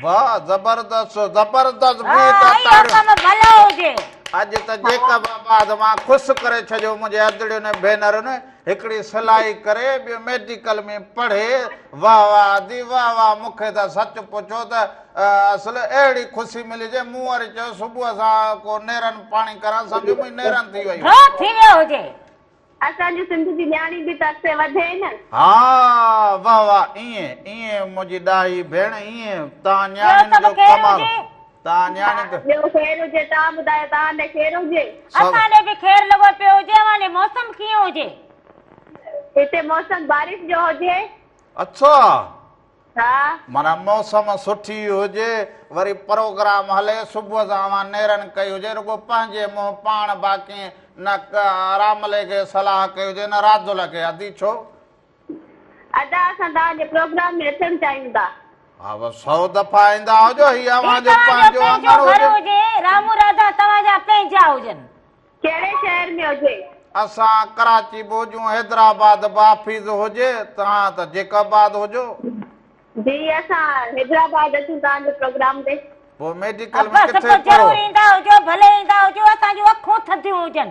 واه زبردست زبردست ها گيت اهي تاڙيون حڪم ڀلا هجي. اڄ ته جيڪب آباد مان خوش ڪري ڇڏيو منهنجي ادڙين ۽ ڀينرن. هڪڙي سلائي ڪري ٻيو ميڊيڪل ۾ پڙهي واه واه ادي واه واه مون کي ته سچ پڇو ته اصل اهڙي خوشي ملي جي مون وري چيو صبح سان ڪو نيرن پاڻي ڪران سمجهو منهنجي نيرن ٿي ويون ٿو ٿي ويو هجي. اسان جي سنڌ جي نياڻي به ته اڳتي وڌي نه. ها واه واه ائين ائين منهنجي ڏاهي ڀيڻ ائين تان ٻيو نياڻين سڀ جو خير ڪمال. هجي. تان نياڻي ها ته. ٻيو خير هجي تان ٻڌايو توهان ڏي خير هجي. سڀ. اسان ڏي به خير لڳو پيو هجي اوهان ڏي موسم ڪيئن هجي. هتي موسم بارش جو هجي. اڇا ها. معنيٰ موسم سٺي هجي وري پروگرام هلي صبح سان اوهان نيرن ڪئي هجي رڳو پنهنجي منهن پاڻ باقي نه ڪه راملي کي صلاح ڪئي هجي نه راجل کي ادي ڇو ادا اسان توهان جي پروگرام ۾ اچڻ چاهيون ٿا. ها بس سئو دفعا ايندا هجو هي اوهان جو پنهنجو اڱڻ هجي. رامو راڌا توهان جا پنهنجا هجن. ڪهڙي شهر ۾ هجي. اسان ڪراچي به هجون حيدرآباد به حافظ هجي توهان ته جيڪب آباد هجو. جي اسان حيدرآباد اچون توهان جي پروگرام تي. پوء ميڊيڪل ۾ ڪٿي پڙهو. ضرور ايندا هجو ڀلي ايندا هجو اسان جون اکون ٿڌيون هجن.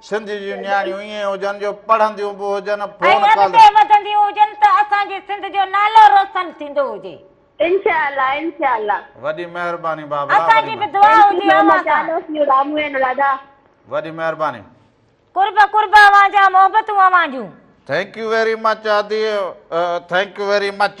سنڌ جون نياڻيون ائين هجن جو پڙهنديون به هجن فون ۽ اڳتي وڌنديون هجن ته اسان جي سنڌ جو نالو روسن ٿيندو هجي. انشاء الله انشاء الله. وڏي مهرباني بابلا وڏي اسان جي به دعا Thank you هجي so اوهان much سان. I love you Ramu ۽ Anuradha. وڏي مهرباني. قرب قرب اوهان جا محبتون اوهان جون. Thank you very much آدي Thank you very much.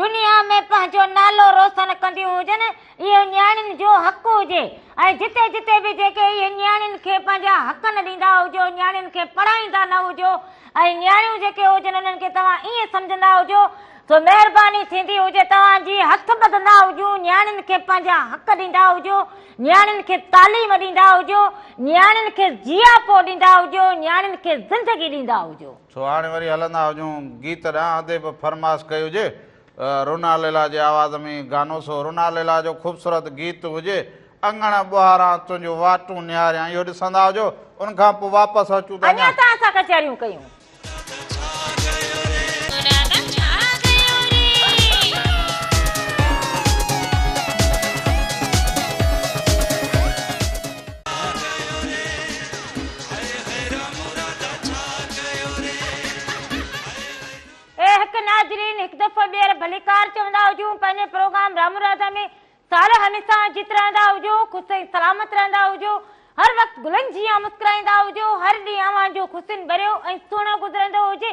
دنيا ۾ پنهنجو نالو روسن ڪنديون هجن، اهو نياڻين جو حق هجي ۽ جتي جتي به جيڪي اهي نياڻين کي پنهنجا حق نه ڏيندا هجو، نياڻين کي پڙهائيندا نه هجو ۽ نياڻيون جيڪي هجن انهن کي توهان ائين سمجهندا هجو، سو مهرباني ٿيندي هجي توهان جي هٿ ٻڌندا هجون، نياڻين کي پنهنجا حق ڏيندا هجو، نياڻين کي تعليم ڏيندا هجو، نياڻين کي جياپو ڏيندا هجو، نياڻين کي زندگي ڏيندا هجو. سو هاڻي وري هلندا هجون گيت ڏانهن ادي به فرماس ڪئي هجي رونا ليلا جي آواز ۾ گانو سو رونا ليلا جو خوبصورت گيت هجي اڱڻ ٻهاران تنهنجو واٽون نهاريان اهو ڏسندا هجو ان کان پوء واپس اچون ته اڃا ته اسان ڪچهريون ڪيون اي هڪ ناظرين هڪ دفعو ٻيهر ڀليڪار چوندا هجون پنهنجي پروگرام رامو راڌا ۾ سال هميسا جيت رهندا هجو خوش ۽ سلامت رهندا هجو هر وقت گلن جيان مسڪرائيندا هجو هر ڏينهن اوهان جو خوشين ڀريو ۽ سهڻو گذرندو هجي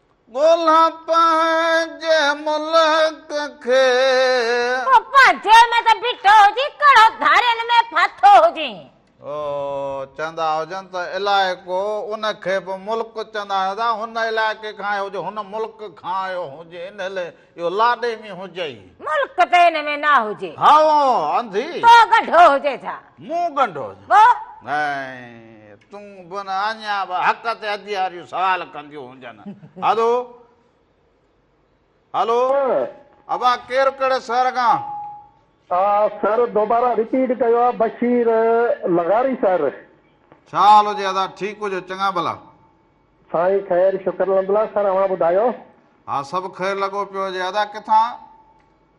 ڳولها پنهنجي ملڪ کي. او پنهنجي ۾ ته بيٺو هجين، ڪهڙو ڌارين ۾ ڦاٿو هجين. او چوندا هجن ته علائقو، ان کي به ملڪ چوندا هوندا، هن علائقي کان آيو هجين، هن ملڪ کان آيو هجين، ان اهو لاڏي ۾ هجئي. ملڪ تين ۾ نه هجي. هائو انڌي. تو ڳنڍو هجي ڇا؟ مون ڳنڍو هجان. پوء؟ ۽ تون به نه اڃا به حق تي ادياريون سوال ڪنديون هونجن. هلو. هلو. ابا ڪير ڪهڙي شهر کان؟ سر دوباره رپيٽ ڪيو آ بشير لغاري سر. ڇا حال هجي ادا ٺيڪ هجو چڱا ڀلا. سائين خير شڪر الحمدالله سر اوهان ٻڌايو. ها سڀ خير لڳو پيو هجي ادا ڪٿان.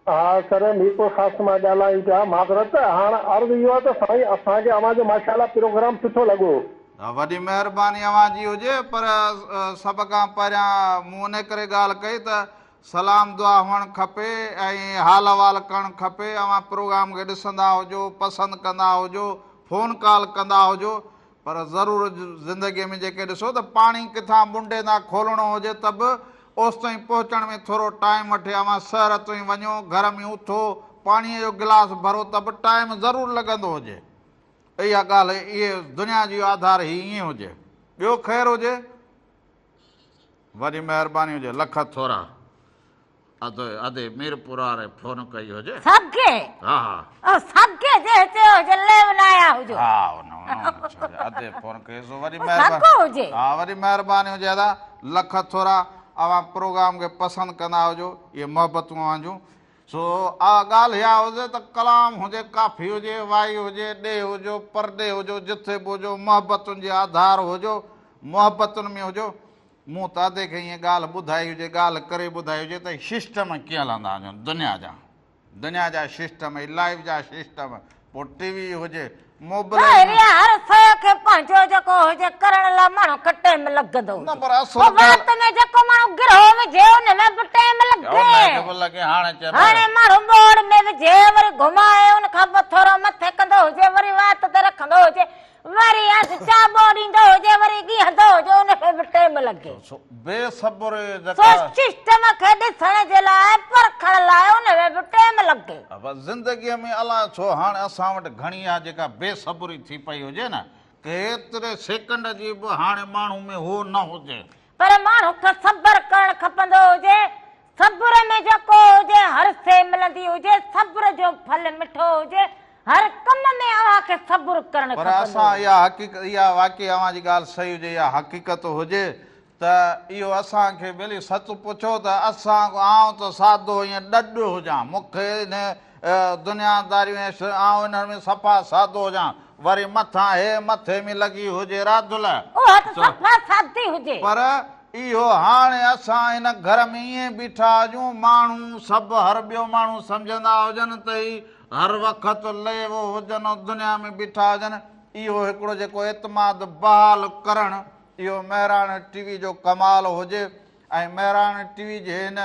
ها سر ميرپور خاص مان ڳالهايون پيا معذرت هاڻ عرض اهو آهي ته سائين اسان کي اوهان جو ماشاء الله پروگرام سٺو لڳو. وڏي مهرباني اوهان جي هجي پر سڀ کان پهريان مون انهي ڪري ڳالهه ڪئي ته سلام دعا هئڻ کپي ۽ حال احوال ڪرڻ کپي اوهان پروگرام کي ڏسندا هجو پسند ڪندا هجو فون ڪال ڪندا هجو پر ضرور زندگيء ۾ جيڪي ڏسو ته پاڻي ڪٿان منڊي تان کولڻو هجي ته به اوستائين پهچڻ ۾ ٿورو ٽائيم وٺي اوهان سحر توئين وڃو گهر ۾ اٿو پاڻيء جو گلاس ڀرو ته به ٽائيم ضرور لڳندو هجي اها ڳالهه اهي دنيا جي آڌار هي ائين هجي ٻيو خير هجي وڏي مهرباني هجي لک ٿورا. اڌ اڌي ميرپور واري فون ڪئي هجي سگي ها ها او سگي جي هتي هو جلي بنايا هجو ها ان اڌي فون ڪئي سو وري مهرباني هجي ها وري مهرباني هجي ادا لک ٿورا اوهان پروگرام کي پسند ڪندا هجو اهي محبتون اوهان جون سو آ ڳالهه اها هجي ته ڪلام هجي ڪافي هجي وائي هجي ڏي هجو پرڏي هجو جٿي به هجو محبتن جي آڌار هجو محبتن ۾ هجو مون تادي کي ائين ڳالهه ٻڌائي هجي، ڳالهه ڪري ٻڌائي هجي ته هي شسٽم ڪيئن هلندا هجن دنيا جا. دنيا جا شسٽم، هي لائف جا شسٽم، پوء ٽي وي هجي، موبلائل. ڀائري هر شيء کي پنهنجو جيڪو هجي ڪرڻ لاء ماڻهو کي ٽيم لڳندو هجي. نه پر اصل ڳالهه. پوء وات ۾ جيڪو ماڻهو گرهو وجهي ان ۾ به ٽيم لڳي. ها ان کي به لڳي هاڻي چئبو. هاڻي ماڻهو ٻوڙ ۾ وجهي وري گهمائي ان کان پوء ٿورو مٿي ڪندو هجي وري وات تي رکندو هجي وري اڌ چاٻو ڏيندو هجي وري ڳيهندو هجي ان کي به ٽيم لڳي. سو بي صبري جيڪا. سو سسٽم کي ڏسڻ جي لاء پرکڻ لاء ان ۾ به ٽيم لڳي. بس زندگيء ۾ الاء ڇو هاڻ اسان وٽ گهڻي اها جيڪا بي صبري ٿي پئي هجي نه ڪيتري سيڪنڊ جي به هاڻي ماڻهو ۾ هو نه هجي. پر ماڻهو کي صبر ڪرڻ کپندو هجي، صبر ۾ جيڪو هجي هر سي ملندي هجي، صبر جو ڦل مٺو هجي، هر ڪم ۾ اوهان کي صبر ڪرڻ پر کپندو اسان هجي. اها حقيق اها واقعي اوهان جي ڳالهه صحيح هجي يا حقيقت هجي ته اهو اسان کي ملي سچ پڇو ته اسان آئون ته سادو ائين ڏڍ هجان مون کي انهي دنيا داريون هيس، آئون انهن ۾ صفا سادو هجان، وري مٿان هيء مٿي ۾ لڳي هجي راڌل. اها ته صفا سادي هجي. پر اهو هاڻي اسان هن گهر ۾ ائين بيٺا هجون، ماڻهو سڀ هر ٻيو ماڻهو سمجهندا هجن ته هي هر وقت ليوو هجن ۽ دنيا ۾ بيٺا هجن، اهو هڪڙو جيڪو اعتماد بحال ڪرڻ، اهو مهراڻ ٽي وي جو ڪمال هجي ۽ مهراڻ ٽي وي جي هن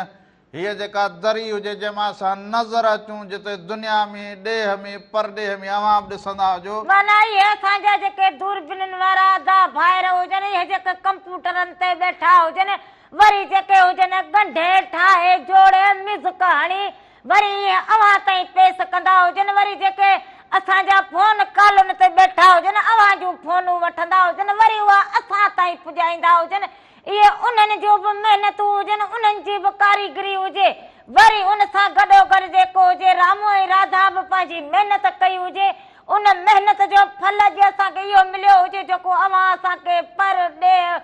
هيء جيڪا دري هجي جنهن مان اسان نظر اچون جتي دنيا ۾ ڏيهه ۾ پرڏيهه ۾ اوهان به ڏسندا هجو. معنيٰ هيء اسان جا جيڪي دوربينين وارا ادا ڀائر هجن هيء جيڪي ڪمپيوٽرن تي ٻيٺا هجن وري جيڪي هجن ڳنڍي ٺاهي جوڙي ميوزڪ هڻي وري ائين اوهان تائين پيس ڪندا هجن وري جيڪي اسان جا فون ڪالن تي ٻيٺا هجن اوهان جون فونون وٺندا هجن وري اها اسان تائين پڄائيندا هجن اهي انهن جون به محنتون هجن، انهن جي به ڪاريگري هجي. وري ان سان گڏوگڏ جيڪو هجي رامو ۽ راڌا به پنهنجي محنت ڪئي هجي، ان محنت جو ڦل اڄ اسان کي اهو مليو هجي جيڪو اوهان اسان کي پر ڏيهه،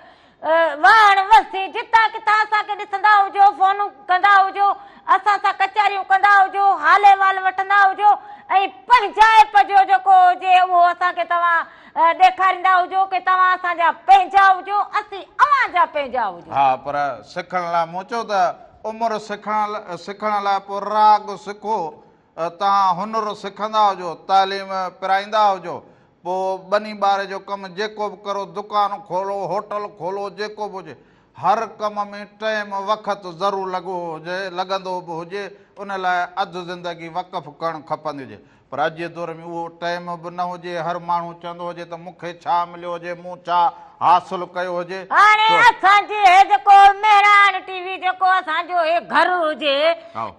واهڻ وسي، جتان ڪٿان اسان کي ڏسندا هجو، فونون ڪندا هجو، اسان سان ڪچهريون ڪندا هجو، حال احوال وٺندا هجو ۽ پنهنجائپ جو جيڪو هجي اهو اسان کي توهان ڏيکاريندا هجو ڪي توهان اسان جا پنهنجا هجو اسين اوهان جا پنهنجا هجون. ها پر سکڻ لا مون چيو ته عمر سکڻ سکڻ لا پو راڳ سکو توهان هنر سکندا هجو تعليم پرائيندا هجو پو ٻني ٻاري جو ڪم جيڪو به ڪرو دڪان کولو هوٽل کولو جيڪو به هجي هر ڪم ۾ ٽئيم وقت ضرور لڳو هجي، لڳندو به هجي، ان لاء اڌ زندگي وقف ڪرڻ کپندي هجي. پر اڄ جي دور ۾ اهو ٽئيم به نه هجي، هر ماڻهو چوندو هجي ته مون کي ڇا مليو هجي، مون ڇا حاصل ڪيو هجي. هاڻي اسان جي هي جيڪو مهراڻ ٽي وي جيڪو اسان جو هي گهر هجي،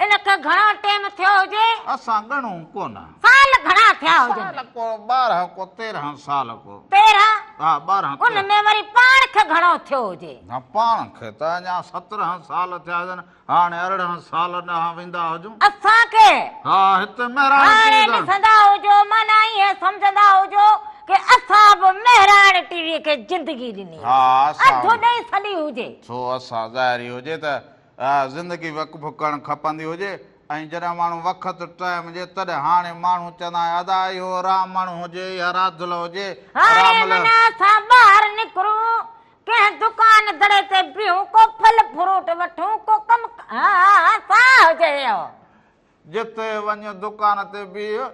ان کي گهڻو ٽئيم ٿيو هجي؟ اسان ڳڻون ڪونه. سال گهڻا ٿيا هجن. سال ڪو ٻارهن ڪو تيرهن سال ڪو. تيرهن؟ ها ٻارهن تيرهن. ان ۾ وري پاڻ کي گهڻو ٿيو هجي. ها پاڻ کي ته اڃا سترهن سال ٿيا هجن هاڻي ارڙهن سال ڏانهن ويندا هجون. اسان کي؟ ها هتي مهراڻ ٽي وي ڏانهن. هاڻي ڏسندا هجو معنيٰ ائين سمجهندا هجو ڪي اسان به مهراڻ ٽي وي کي زندگي ڏني هجي. ها اسان. اڌ ڏئي سڏي هجي. سو اسان ظاهري هجي ته اها زندگي وقف ڪرڻ کپندي هجي ۽ جڏهن ماڻهو وقت ٽائيم هجي تڏهن هاڻي ماڻهو چوندا آهن ادا اهو رامڻ هجي يا راڌل هجي هاڻي من اسان ٻاهر نڪرون ڪنهن دڪان دڙي تي بيهون ڪو ڦل فروٽ وٺون ڪو ڪم ها ها ساهه هجي اهو جتي وڃ دڪان تي بيهه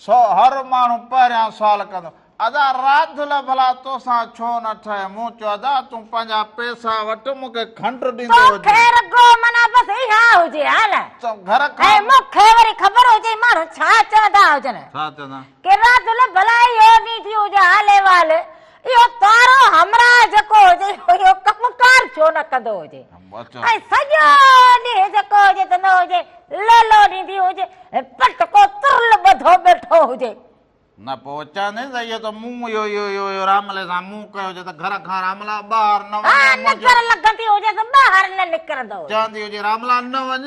سو هر ماڻهو پهريان سوال ڪندو ادا راڌل ڀلا توسان ڇو نه ٺهي مون چيو ادا تون پنهنجا پيسا وٺ مون کي کنڊ ڏيندو هجي تو کي رڳو معنيٰ بس اها هجي ها نه تو گهر کان ۽ مون کي وري خبر هجي ماڻهو ڇا چوندا هجن ڇا چوندا ڪي راڌل ڀلا اهو نيٺي هجي حال احوال اهو ڪارو همراهه جيڪو هجي اهو ڪم ڪار ڇو نه ڪندو هجي ۽ سڄو ڏينهن جيڪو هجي ته نه هجي ليلو ڏيندي هجي پٽ ڪو ترل ٻڌو ٻيٺو هجي نه پوء چوندين ته اهو ته مون اهو اهو اهو راملي سان مون ڪيو هجي ته گهر کان راملا ٻاهر نه وڃي ها نظر لڳندي هجي ته ٻاهر نه نڪرندو هجي چوندي هجي راملا نه وڃ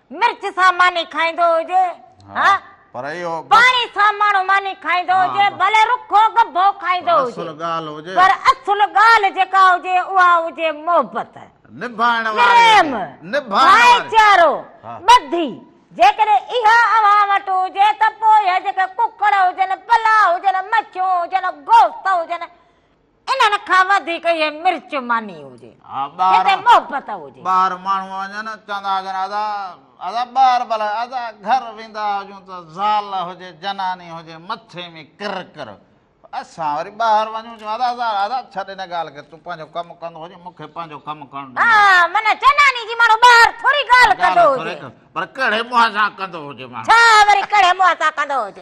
مرچ سان ماني کائيندو هجي ها پر اهو پاڻي سان ماڻهو ماني کائيندو هجي ڀلي رکو گڀو کائيندو هجي پر اصل ڳالهه جيڪا هجي اها هجي محبت نڀائڻ واري ڀائيچارو ٻڌي جيڪڏهن اها اوهان وٽ هجي ته پوء جيڪي ڪڪڙ هجن پلاء هجن مڇيون هجن گوشت هجن انهن کان وڌيڪ اهي مرچ ماني هجي. ها ٻاهر. هتي محبت هجي. ٻاهر ماڻهو وڃن چوندا هجن ادا ادا ٻاهر بلا ادا گهر ويندا هجون ته زال هجي جناني هجي مٿي ۾ ڪر ڪر اسان وري ٻاهر وڃون چون ادا زال ادا ڇڏ ان ڳالهه کي تون پنهنجو ڪم ڪندو هجي مون کي پنهنجو ڪم ڪرڻ ڏي. ها معنيٰ جناني جي ماڻهو ٻاهر ٿوري ڳالهه ڪندو هجي. پر ڪهڙي منهن سان ڪندو هجي ماڻهو. ڇا وري ڪهڙي منهن سان ڪندو هجي.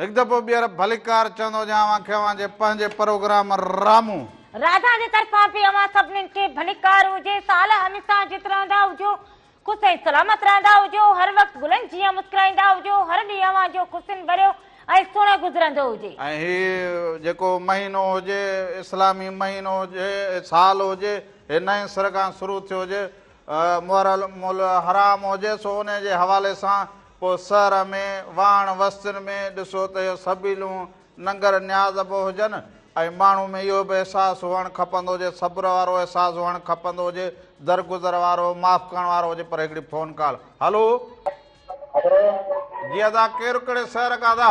هڪ دفعو ٻيهر ڀليڪار چوندو هجان اوهان کي اوهان جي پنهنجي پروگرام رامون. راجا جي طرفان به اوهان سڀنين کي ڀليڪار هجي سال هميسا جت رهندا هجو خوس ۽ سلامت رهندا هجو هر وقت گلن جيان مسڪرائيندا هجو هر ڏينهن اوهان جو خوشين ڀريو ۽ سهڻو گذرندو هجي. ۽ هي جيڪو مهينو هجي اسلامي مهينو هجي سال هجي هي نئين سر کان شروع ٿيو هجي محرم الحرام هجي سو انهي جي حوالي سان پوء سر ۾ واڻ وستين ۾ ڏسو ته اهي سبيلون ننگر نياز اڀو هجن ۽ ماڻهو ۾ اهو به احساس هئڻ کپندو هجي صبر وارو احساس هئڻ کپندو هجي درگذر وارو معاف ڪرڻ وارو هجي پر هڪڙي فون ڪال هلو جي ادا ڪير ڪهڙي شهر کان ادا.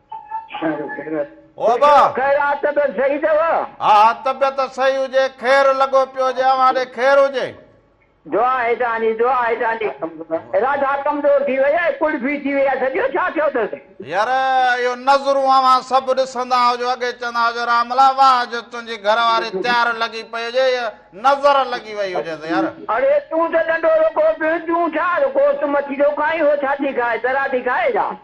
او با! ها ها طبيعت صحيح هجي، خير لڳو پيو هجي، اوهان ڏي خير هجي. يار اهو نظرون اوهان سڀ ڏسندا هجو، اڳي چوندا هجو راملا واهه جو تنهنجي گهر واري تيار لڳي پئي هجي، هيء نظر لڳي وئي هجيس يار.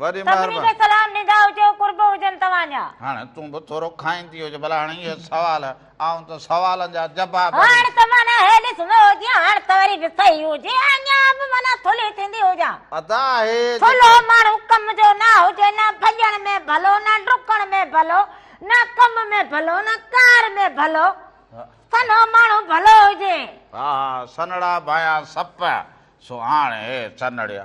وڏي مهرباني سڀني کي سلام ڏيندا هجو قرب هجن توهان جا. هاڻ تون به ٿورو کائيندي هج ڀلا هاڻ اهي سوال آئون ته سوالن جا جباب ڏينس. هاڻ ته معنيٰ هي ڏس نه هجي هاڻ ته وري به صحيح هجي اڃان به معنيٰ ٿلهي ٿيندي هجان. ادا هي جيڪو. ٿلهو ماڻهو ڪم جو نه هجي نه ڀڄڻ ۾ ڀلو نه ڊڪڻ ۾ ڀلو نه ڪم ۾ ڀلو نه ڪار ۾ ڀلو سنهو ماڻهو ڀلو هجي. ها ها سنهڙا ڀايان سپ سو هاڻ هي سنهڙيا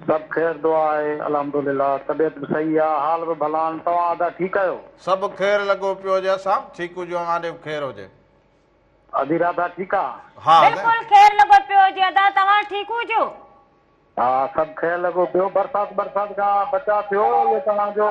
سڀ خير دعا آهي الحمدلله طبيعت به صحيح آ حال به ڀلا آهن توهان ادا ٺيڪ آهيو. سڀ خير لڳو پيو هجي اسان به ٺيڪ هجون اوهان ڏي به خير هجي. ادي راڌا ٺيڪ آ. ها ادا. بلڪل خير لڳو پيو هجي ادا توهان ٺيڪ هجو. ها سڀ خير لڳو پيو برسات برسات کان بچاء ٿيو اهو توهان جو.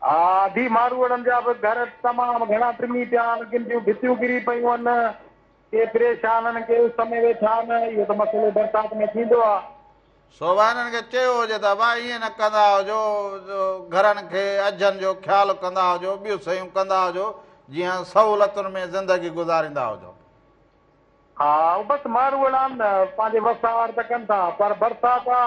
آء ڌي ماروئڙن جا به گهر تمام گهڻا ٽمي پيا آهن، ڪن جون ڀتيون ڪري پيون آهن، ڪي پريشان آهن، ڪي اس ۾ ويٺا آهن، اهو ته مسئلو برسات ۾ ٿيندو آهي. سو به هنن کي چيو هجي ته ابا ائين نه ڪندا هجو، گهرن کي اجهن جو خيال ڪندا هجو، ٻيون سيون ڪندا هجو، جيئن سهولتن ۾ زندگي گذاريندا هجو. ها بس ماروئڙان پنهنجي وسار ته ڪن ٿا، پر برسات آ.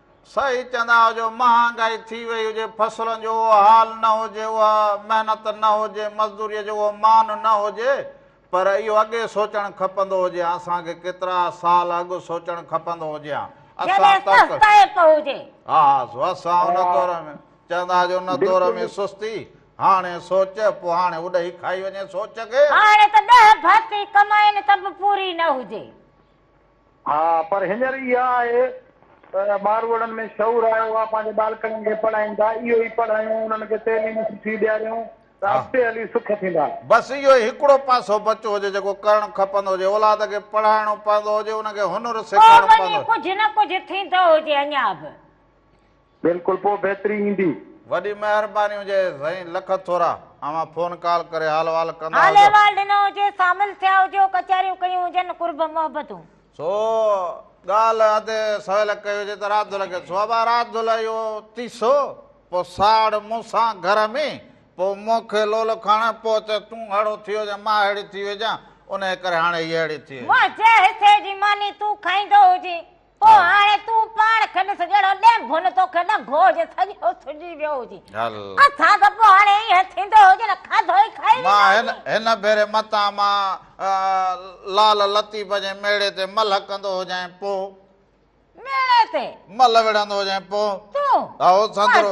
صحيح چوندا آهيو جو مهانگائي ٿي وئي هجي فصلن جو اهو حال نه هجي اها محنت نه هجي مزدوري جو اهو مان نه هجي پر اهو اڳي سوچڻ کپندو هجي ها اسان کي ڪيترا سال اڳ سوچڻ کپندو هجي ها اسان تڪ ها ها سو اسان ان دور ۾ چوندا آهيو جو ان دور ۾ سستي هاڻي سوچ پو هاڻي اڏهي کائي وڃي سوچ کي هاڻي ته ڏهه ڀاتي ڪمائين ته به پوري نه هجي ها پر هينئر اها آهي ته ٻاروڙن ۾ شعور آيو آهي پنهنجي ٻالڪڙن کي پڙهائين ٿا اهو ئي پڙهايون انهن کي تعليم سٺي ڏياريون ته اڳتي هلي سک ٿيندا. بس اهو ئي هڪڙو پاسو بچو هجي جيڪو ڪرڻ کپندو هجي اولاد کي پڙهائڻو پوندو هجي ان کي هنر سيکارڻو پوندو هجي. پوء وڃي ڪجهه نه ڪجهه ٿيندو هجي اڃا به. بلڪل پوء بهتري ايندي. وڏي مهرباني هجي سائين لک ٿورا اوهان فون ڪال ڪري حال وحال ڪندا حال هجو. احوال ڏنو هجي سامل ٿيا هجو ڪچهريون ڪيون هجن قرب محبتون. سو ڳالهه اڌ سويل ڪئي هجي ته رات دل کي سو ابا رات دل اهو تيسو پوء ساڙ مون سان گهر ۾ پوء مون کي لول کڻ پوء چئه تون اهڙو ٿي هجين مان اهڙي ٿي ويجان انهي ڪري هاڻي هي اهڙي ٿي ويجان. مون جي حصي جي ماني تون کائيندو هجين پوء هاڻي تون پاڻ کي ڏس جهڙو ڏيم ڀن توکي نه گوج سڄو سجي ويو هجي اٿان ته پوء هاڻي ائين ٿيندو هجي نه کاڌو ئي کائي مان هن ڀيري متان مان لال لطيف جي ميڙي تي ملهه ڪندو هجين پوء ميڙي تي ملهه وڙهندو هجين پوء تون هو سندرو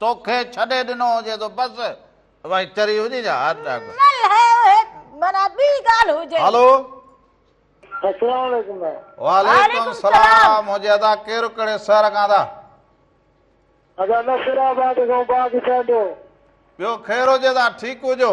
توکي ڇڏي ڏنو هجي ته بس وائي چري هجي جا هارٽ اٽيڪ هلو السلام عليڪم وعليڪم السلام هجي ادا ڪير ڪهڙي شهر کان ادا ادا نصر آباد کان باغ سينڊو ٻيو خير هجي ادا ٺيڪ هجو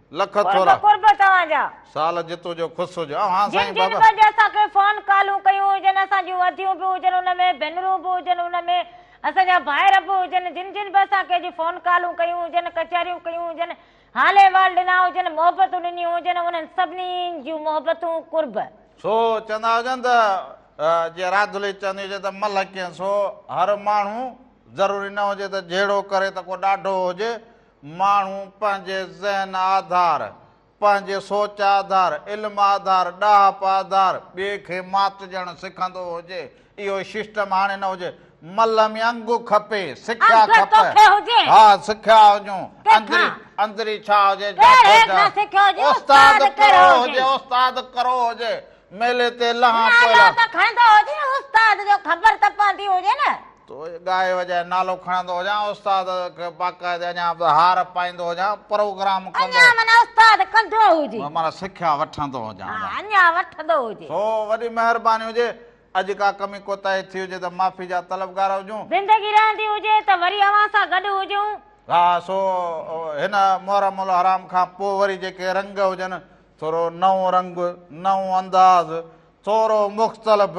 لک ٿورا. قرب قرب توهان جا. سال جتو جو خوش هج. اوهان جن سائين جن بابا. به اڄ اسان کي فون ڪالون ڪيون هجن اسان جون اديون به هجن ان ۾ ڀينرون به هجن ان ۾ اسان جا ڀائر به هجن جن جن به اسان کي اڄ فون ڪالون ڪيون هجن ڪچهريون ڪيون هجن حال احوال ڏنا هجن محبتون ڏنيون هجن انهن سڀني جون محبتون قرب. سو چوندا هجن ته جيئن راڌلي چوندي هجي ته ملهه ڪين سو هر ماڻهو ضروري نه هجي ته جهيڙو ڪري ته ڪو ڏاڍو هجي ماڻهو پنهنجي ذهن آڌار، پنهنجي سوچ آڌار، علم آڌار، ڏاهپ آڌار ٻئي کي ماتجڻ سکندو هجي، اهو سسٽم هاڻي نه هجي. ملهه ۾ انگ کپي، سکيا کپ. ها سکيا هجون، اندري ڇا هجي جا سوچ. استاد ڪرو هجي، استاد ڪرو هجي، ميلي تي لهان پوئلان. نالو ته کڻندو هجي، استاد جو خبر ته پوندي هجي نه. تو ڳائي وڄائي نالو کڻندو هجان استاد کي باقاعدي اڃان به هار پائيندو هجان پروگرام ڪندو اڃان معنيٰ استاد ڪندو هجي معنيٰ سکيا وٺندو هجان ها اڃان وٺندو هجي سو وڏي مهرباني هجي اڄ ڪا ڪمي ڪوتاهي ٿي هجي ته معافي جا طلبگار هجون زندگي رهندي هجي ته وري اوهان سان گڏ هجون ها سو هن محرم الحرام کان پوء وري جيڪي رنگ هجن ٿورو نئون رنگ نئون انداز ٿورو مختلف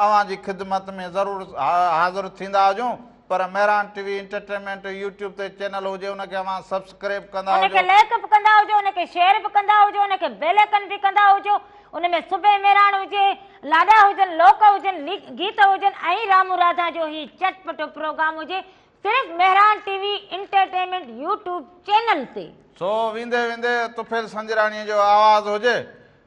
اوهان جي خدمت ۾ ضرور حاضر ٿيندا هجون پر Mehran T V entertainment YouTube تي چينل هجي ان کي اوهان سبسڪريب ڪندا هجو ان کي لائڪ به ڪندا هجو ان کي شيئر به ڪندا هجو ان کي بيل آئڪن به ڪندا هجو ان ۾ صبح مهراڻ هجي لاڏا هجن لوڪ هجن گيت هجن ۽ رامو راڌا جو هي چٽ پٽو پروگرام هجي صرف Mehran T V entertainment YouTube channel تي سو ويندي ويندي طفيل سنجراڻي جو آواز هجي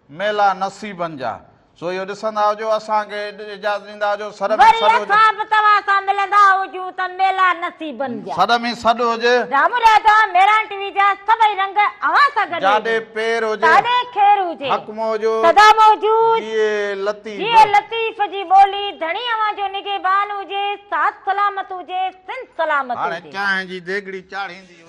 ميلا نصيبن جا سو اهو ڏسندا هجو اسان کي اجازت ڏيندا هجو سڏ ۾ سڏ هجي. وري اسان به توهان سان ملندا هجون ته ميلا نصيبن جا. سڏ ۾ سڏ هجي. جا مراد آ ميران ٽي وي جا سڀئي رنگ اوهان سان گڏ هجن. جاڏي پير هجي. تاڏي خير هجي. حق موجو. سدا موجود. جيئي لطيف. جيئي لطيف جي ٻولي. ڌڻي اوهان جو نگهبان هجي. ساٿ سلامت هجي. سنڌ سلامت هجي. هاڻي چانهه جي ديڳڙي چاڙهيندي هئي.